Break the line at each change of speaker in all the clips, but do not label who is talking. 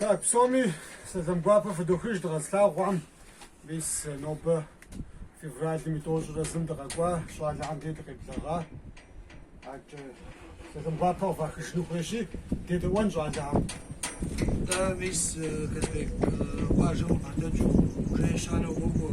Так, псоми сэлам гуапэ фыдохыж дыкъэзылъагъухэм мис нобэ февралым и тӏощӏрэ зым дыкъэкӏуа щӏалэхэм дей дыкъеблэгъа. Акӏэ сэлам гуапэ къыфахыжыну хуейщи, дедэӏуэн щӏалэхэм. Да, мис Казбек, къуажэм къыбгъэдэкӏыу уже ещанэу уокӏуэ.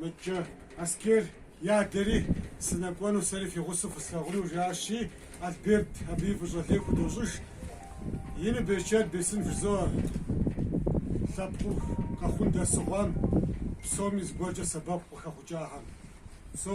Мыдкӏэ Аскер и адэри, сынэкӏуэну сэри фи гъусэу фыслъагъуну, жиӏащи, Альберт абыи фӏыщӏэ лей худощӏыж. Ину берычэт бесын жызоӏэ. Лъэпкъыу Къэхъун дэсу хъуам, псоми зыгуэркӏэ сэбэпу къытхуэхъукӏахэм. Со.